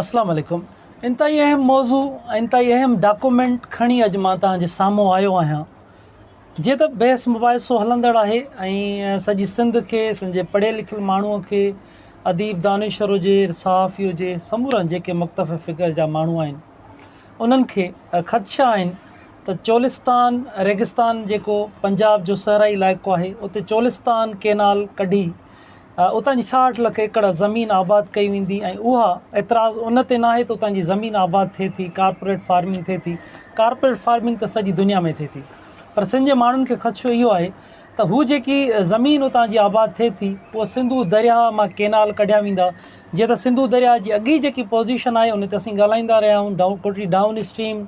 اسلام عليڪم انتهائي اهم موضوع ۽ انتهائي اهم ڊاڪومينٽ کڻي اڄ مان توهان جي سامهون آيو آهيان جيئن ته بحث مباحثو هلندڙ آهي ۽ سڄي سنڌ کي سنڌ جي پڙهيل لکيل ماڻهو کي اديب دانشور هجي صحافي هجي سمورن جيڪي مختفي فگر جا ماڻهو آهن انهن کي خدشا آهن ته چولستان ريگستان جيڪو پنجاب جو صحرائي علائقو آهي اتي چولستان ڪينال ڪڍي اتان جي ڇاهٺ لک ايڪڙ زمين آباد ڪئي ويندي ۽ اها اعتراض ان تي ناهي ته اتان جي زمين آباد ٿئي ٿي ڪارپوريٽ فارمنگ ٿئي ٿي ڪارپوريٽ فارمنگ ته سڄي دنيا ۾ ٿئي ٿي پر سنڌ جي ماڻهن کي خدشو اهو آهي ته هو جيڪي زمين اتان جي آباد ٿئي ٿي اهو سنڌو درياء مان ڪينال ڪڍيا ويندا جيئن ته سنڌو درياء جي اڳي جيڪي پوزيشن آهي ان تي اسين ڳالهائيندا رهيا آهيون ڊائون ٽوٽلي ڊائون اسٽريم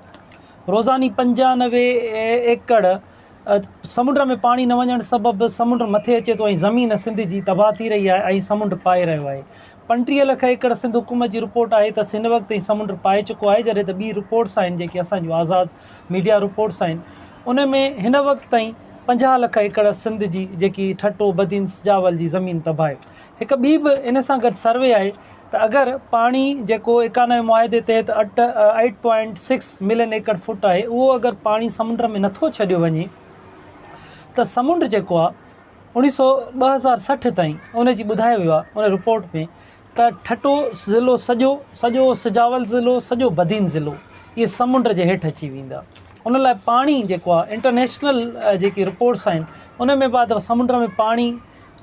روزاني پنجانوي ايڪڙ سمنڊ ۾ پاڻي نه وڃڻ سبب سمنڊ مٿي اچي ٿو ۽ زمين سنڌ جي تباهه ٿي رهي آهي ۽ سمنڊ پائي رهيو آهي پنٽيهه لک ايڪڙ سنڌ حڪومت جي رپورٽ آهي ته هن وقت تائين سمنڊ پائي چڪو آهي جڏهن ته ٻي رپورٽس آهن جيڪي اسان جون آزاد ميڊيا رپورٽس آهن ان ۾ هن وقت تائين پنجاهه لک ايڪڙ سنڌ جي جيڪي ٺٽو بدين سجاول جي زمين تباهه هڪ ٻي به ان سان گڏ سروي آهي ته اگر پاڻي جيڪو ايڪانوي معاهدي تحت اٽ اٺ point six million acre foot آهي اهو اگر پاڻي سمنڊ ۾ نٿو ڇڏيو وڃي ته سمنڊ جيڪو آهي اوڻي سو ٻه هزار سٺ تائين ان جي ٻڌايو ويو آهي ان رپورٽ ۾ ته ٺٽو ضلعو سڄو سڄو سجاول ضلعو سڄو بدين ضلعو اهي سمنڊ جي هيٺ اچي ويندا ان لاء پاڻي جيڪو آهي انٽرنيشنل جيڪي رپورٽس آهن ان ۾ بعد سمنڊ ۾ پاڻي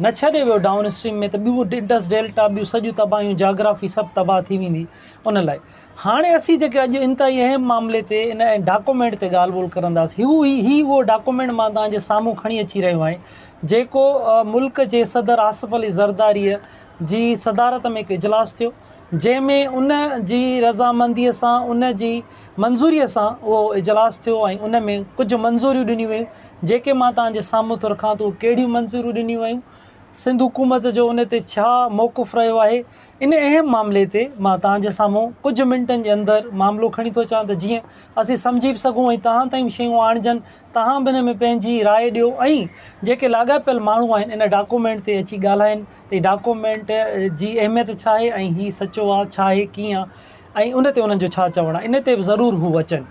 نه ڇڏي ويو ڊائون اسٽريم ۾ ته ٻيو انڊس ڊيلٽا ٻيون سڄيون تباهيون جاگرافي سڀ تباهه ٿي ويندي ان لاء هاڻي اسين جيڪي اڄ انتهائي اهم معاملي تي ان ڊاڪومينٽ تي ڳالهه ٻولهه ڪرنداسين هو هي هي اهو ڊاڪومينٽ مان توهان جي سامهون کڻي اچي رهيو آهيان جيڪو ملڪ جي صدر آصف علي زرداري جي صدارت ۾ هڪ اجلاس ٿيو جنهن ۾ ان جي رضامنديء سان ان جي منظوريء سان اهو اجلاس ٿيو ۽ ان ۾ ڪجهه منظوريون ڏنيون ويون جيڪي مان توهان جي سامهون ٿو رکان ته اهي ڪهڙيون منظوريون ڏنيون ويون سنڌ حڪومت جو ان تي ڇا موقف رهيو آهي ان اهم معاملي تي مان توهان جي سامهون ڪجهه منٽن جي اندر معاملو کڻي ٿو اچان ته جيئن اسين سمجهي به سگهون ۽ توهان تائين به شيون آڻجن توهان به ان ۾ پنهنجي راء ڏيو ۽ جيڪي لاڳاپيل ماڻهو آهن ان ڊاڪومينٽ تي اچي ڳالهائين هي ڊاڪومينٽ جي اهميت ڇا آهي ۽ هي سچو آ ڇا آهي ڪيئن ۽ ان تي انهن جو ڇا چوڻ آهي ان تي به ضرور هو اچن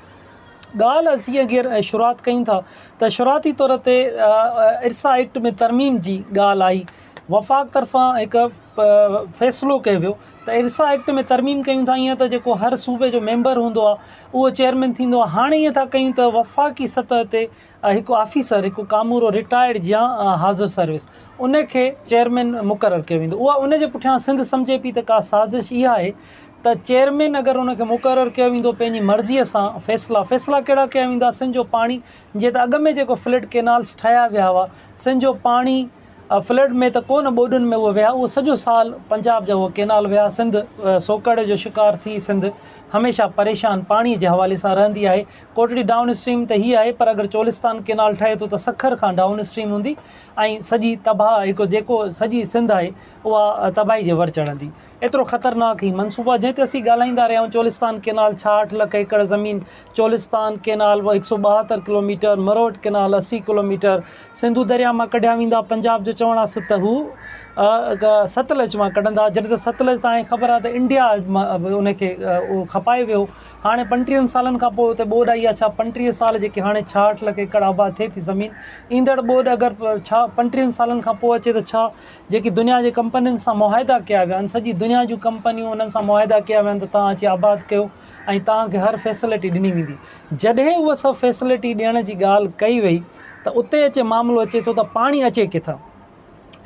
ڳالهه اسين اگر شروعات ڪيون ٿا ته شروعاتي طور تي ارسا ايڪٽ ۾ ترميم جي ڳالهه آئي وفاق طرفان هڪ فيصلو ڪيو ويو ته ارسا ايڪٽ ۾ ترميم ڪيون ٿا ائين ته جيڪو هر صوبي جو ميمبر هوندو آ اهو چيئرمين ٿيندو آ هاڻي ائين ٿا ڪيون ته وفاقي سطح تي هڪ آفيسر، هڪ ڪامورو رٽائرڊ جيان حاضر سروس، ان کي چيئرمين مقرر ڪيو ويندو. اها ان جي پٺيان سنڌ سمجهي پئي ته ڪا سازش اها آهي ته چيئرمين اگر ان کي مقرر ڪيو ويندو پنهنجي مرضيء سان فيصلا، فيصلا ڪهڙا ڪيا ويندا سن جو پاڻي جيئن ته اڳ ۾ جيڪو فلڊ ڪينالز ٺاهيا ويا هئا سن جو پاڻي فلڊ ۾ ته ڪو نه ٻوڏن ۾ اهو ويا اهو سڄو سال پنجاب جا اهو ڪينال ويا سنڌ سوڪهڙ جو شڪار ٿي سنڌ هميشه پريشان پاڻي جي حوالي سان رهندي آهي. ڪوٽڙي ڊائون اسٽريم ته هي آهي پر اگر چولستان ڪينال ٺهي ٿو ته سکر کان ڊائون اسٽريم هوندي ۽ سڄي تباهه هڪ جيڪو سڄي سنڌ آهي اها تباهي جي ور چڙهندي ايترو خطرناڪ هي منصوبو آهي جنهن تي اسين ڳالهائيندا رهيا آهيون چولستان ڪينال ڇاهٺ لک ايڪڙ زمين چولستان ڪينال هڪ سئو ٻاهتر ڪلوميٽر مروٽ ڪينال اسي ڪلوميٽر سنڌو درياء مان ڪڍيا ويندا پنجاب جو چوڻ آهي ته هو ستلج مان ڪڍندا جڏهن ته ستلج تان خبر آهي ته انڊيا ان کي کپائي ويو هاڻي پنٽيهن سالن کان پوء اتي ٻوڏ آئي آهي، ڇا پنٽيهه سال جيڪي هاڻي ڇاهٺ لک ايڪڙ آباد ٿئي ٿي زمين، ايندڙ ٻوڏ اگر ڇا پنٽيهن سالن کان پوء اچي ته ڇا جيڪي دنيا جي ڪمپنين سان معاهدا ڪيا ويا آهن، سڄي دنيا جون ڪمپنيون انهن سان معاهدا ڪيا ويا آهن ته توهان اچي آباد ڪيو ۽ توهان کي هر فيسلٽي ڏني ويندي، جڏهن اهي سڀ فيسلٽي ڏيڻ جي ڳالهه ڪئي وئي ته اتي اچي معاملو اچي ٿو ته پاڻي اچي ڪٿان؟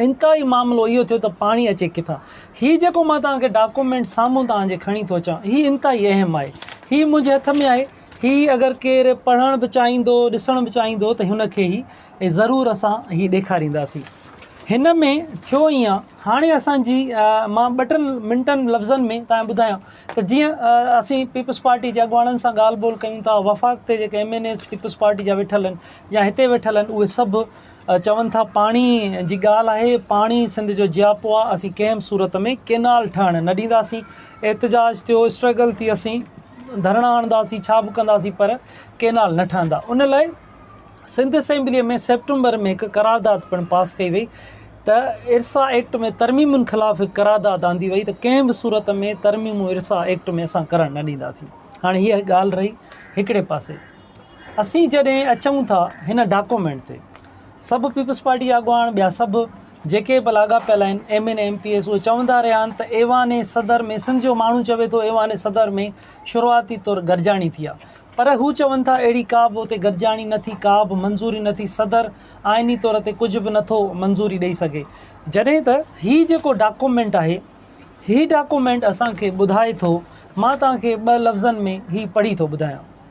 انتهائي معاملو اهو ٿيو ته پاڻي اچي ڪٿان؟ هي جيڪو مان توهان کي ڊاڪومينٽ سامهون توهان جي کڻي ٿو اچان، هي انتهائي اهم آهي. هي منهنجي هٿ ۾ آهي. هي اگر ڪير پڙهڻ به چاهيندو، ڏسڻ به چاهيندو ته هن کي هي ضرور اسان هي ڏيکارينداسين. هن ۾ ٿيو ايئن، هاڻي اسان جي مان ٻه ٽن منٽن لفظن ۾ توهان کي ٻڌايان ته جيئن اسين پيپلز پارٽي جي اڳواڻن سان ڳالهه ٻولهه ڪيون ٿا، وفاق تي جيڪي M N As Peoples Party جا ويٺل آهن يا هتي ويٺل آهن اهي سڀ چون ٿا پاڻي جي ڳالهه آهي پاڻي سنڌ جو جياپو آ اسين ڪنهن به صورت ۾ ڪينال ٺهڻ نه ڏينداسين احتجاج ٿيو اسٽرگل ٿي اسين ڌرڻا هڻنداسين ڇا به ڪنداسين پر ڪينال نه ٺهندا ان لاء سنڌ اسيمبلي ۾ سيپٽمبر ۾ هڪ قرارداد پڻ پاس ڪئي وئي ته ارسا ايڪٽ ۾ ترميمن خلاف هڪ قرارداد آندي وئي ته ڪنهن به صورت ۾ ترميمون ارسا ايڪٽ ۾ اسان ڪرڻ نه ڏينداسين هاڻي هيء ڳالهه رهي هڪڙي پاسي اسين جڏهن اچون ٿا هن ڊاڪومينٽ تي سڀ پيپلز پارٽي جا اڳواڻ ٻيا سڀ جيڪي به لاڳاپيل آهن M N M P S اهي چوندا رهيا آهن ته ايوان صدر ۾ سنڌ جو ماڻهو چوي ٿو ايوان صدر ۾ شروعاتي طور گڏجاڻي ٿي آهي پر هو چون ٿا اهڙي ڪا به اتي گڏجاڻي نه ٿي ڪا به منظوري نه ٿي صدر آئيني طور تي ڪجهه به نٿو منظوري ڏئي سگهي جڏهن ته هي جيڪو ڊاڪومينٽ آهي هي ڊاڪومينٽ اسان کي ٻڌائي ٿو مان توهان کي ٻه لفظن ۾ هي پڙهي ٿو ٻڌايان.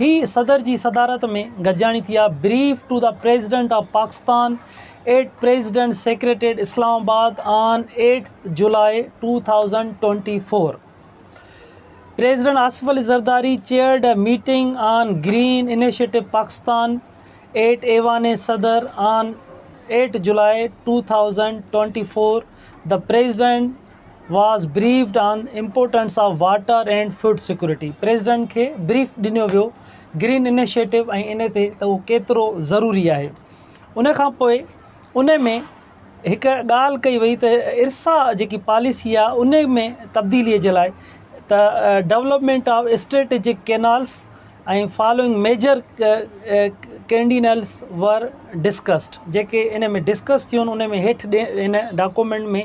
هي صدر جي صدارت ۾ گڏجاڻي ٿي آهي، brief to the president of Pakistan at president's secretariat Islamabad on eight July two thousand twenty four, president Asif Ali Zardari chaired a meeting on green initiative Pakistan at Aiwan Sadr on eight July two thousand twenty four, the president was briefed on importance of water and food security, president کي brief ڏنو ويو green initiative ۽ ان تي ته اهو ڪيترو ضروري آهي. ان کان پوء ان ۾ هڪ ڳالهه ڪئي وئي ته ارسا جيڪي پاليسي آهي ان ۾ تبديلي جي لاء ته development of strategic canals ۽ following major canals were discussed جيڪي ان ۾ ڊسڪس ٿيون ان ۾ هيٺ ان ڊاڪومينٽ ۾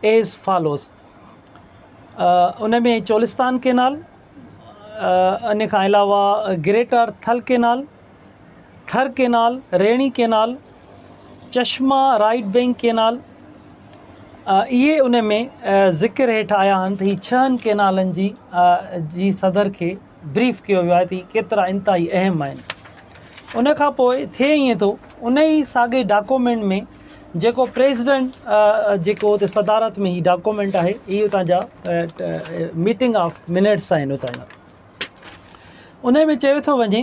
ايز فالوز ان ۾ چولستان ڪينال ان کان علاوه greater Thal canal Thar canal Rainee canal Chashma right bank canal اهي ان ۾ ذڪر هيٺ آيا آهن ته هي ڇهن ڪينالن جي جي صدر کي بريف ڪيو ويو آهي ته هي ڪيترا انتهائي اهم آهن ان کان پوء ٿئي ائين ٿو ان ئي ساڳي ڊاڪومينٽ ۾ جيڪو پريزيڊنٽ جيڪو اتي صدارت ۾ هي ڊاڪومينٽ آهي هي اتان جا ميٽنگ آف منٽس آهن اتان جا ان ۾ چيو ٿو وڃي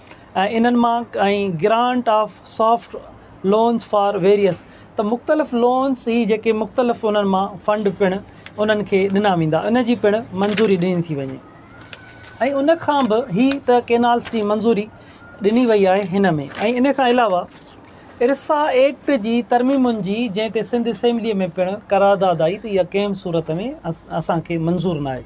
۽ انهن مان ۽ grant of soft loans for various ته مختلف لونز هي جيڪي مختلف انهن مان فنڊ پڻ انهن کي ڏنا ويندا ان جي پڻ منظوري ڏني ٿي وڃي ۽ ان کان به هي ته ڪينالز جي منظوري ڏني وئي آهي هن ۾ ۽ ان کان علاوه ارسا ايڪٽ جي ترميمن جي جنهن تي سنڌ اسيمبلي ۾ پڻ قرارداد آئي ته اها ڪنهن به صورت ۾ اسان کي منظور ناهي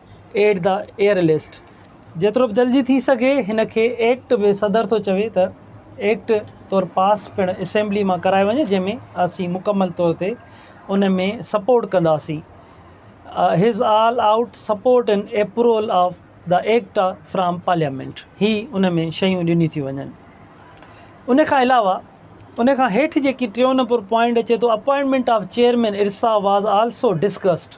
ايڊ دا ايئر لسٽ جيترو به جلدي ٿي سگهي هن کي ايڪٽ به صدر ٿو چوي ته ايڪٽ طور پاس پڻ اسيمبلي مان ڪرائي وڃي جنهن ۾ اسين مڪمل طور تي ان ۾ سپورٽ ڪنداسين his all out support in approval of the act from parliament هي ان ۾ شيون ڏني ٿيون وڃن ان کان علاوه ان کان هيٺ جيڪي ٽيون نمبر پوائنٽ اچي ٿو appointment of chairman IRSA was also discussed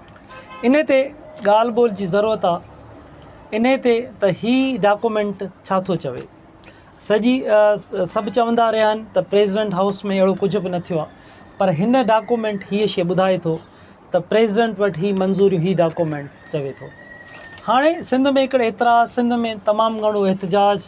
انهي تي ڳالهه ٻولهه جي ضرورت آ انهي تي ته هي ڊاڪومينٽ ڇا ٿو چوي سڄي سڀ چوندا رهيا آهن ته پريزيڊنٽ هائوس ۾ اهڙو ڪجهه به نه ٿيو آهي پر هن ڊاڪومينٽ هي شي ٻڌائي ٿو ته پريزيڊنٽ وٽ هي منظوري هي ڊاڪومينٽ چوي ٿو هاڻي سنڌ ۾ هڪڙي اعتراض سنڌ ۾ تمام گهڻو احتجاج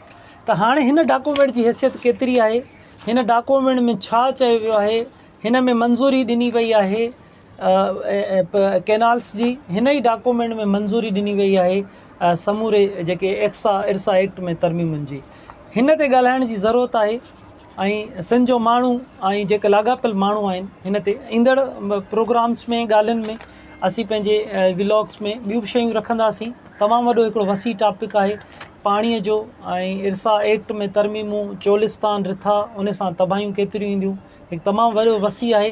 ته هاڻي هن ڊاڪومينٽ جي حيثيت ڪيتري آهي، هن ڊاڪومينٽ ۾ ڇا چيو ويو آهي، هن ۾ منظوري ڏني وئي آهي ڪينالس جي، هن ئي ڊاڪومينٽ ۾ منظوري ڏني وئي آهي سموري جيڪي ايڪسا ارسا ايڪٽ ۾ ترميمن جي، هن تي ڳالهائڻ جي ضرورت آهي ۽ سنڌ جو ماڻهو ۽ جيڪي لاڳاپيل ماڻهو آهن هن تي ايندڙ پروگرامس ۾ ڳالهين ۾ اسين پنهنجي ولاگس ۾ ٻيون به شيون رکنداسين تمام وڏو هڪڙو وسيع ٽاپڪ آهي پاڻيء جو ۽ ارسا ايڪٽ ۾ ترميمون چولستان رٿا ان سان تباهيون ڪيتريون اينديون هڪ تمام وڏو وسيع آهي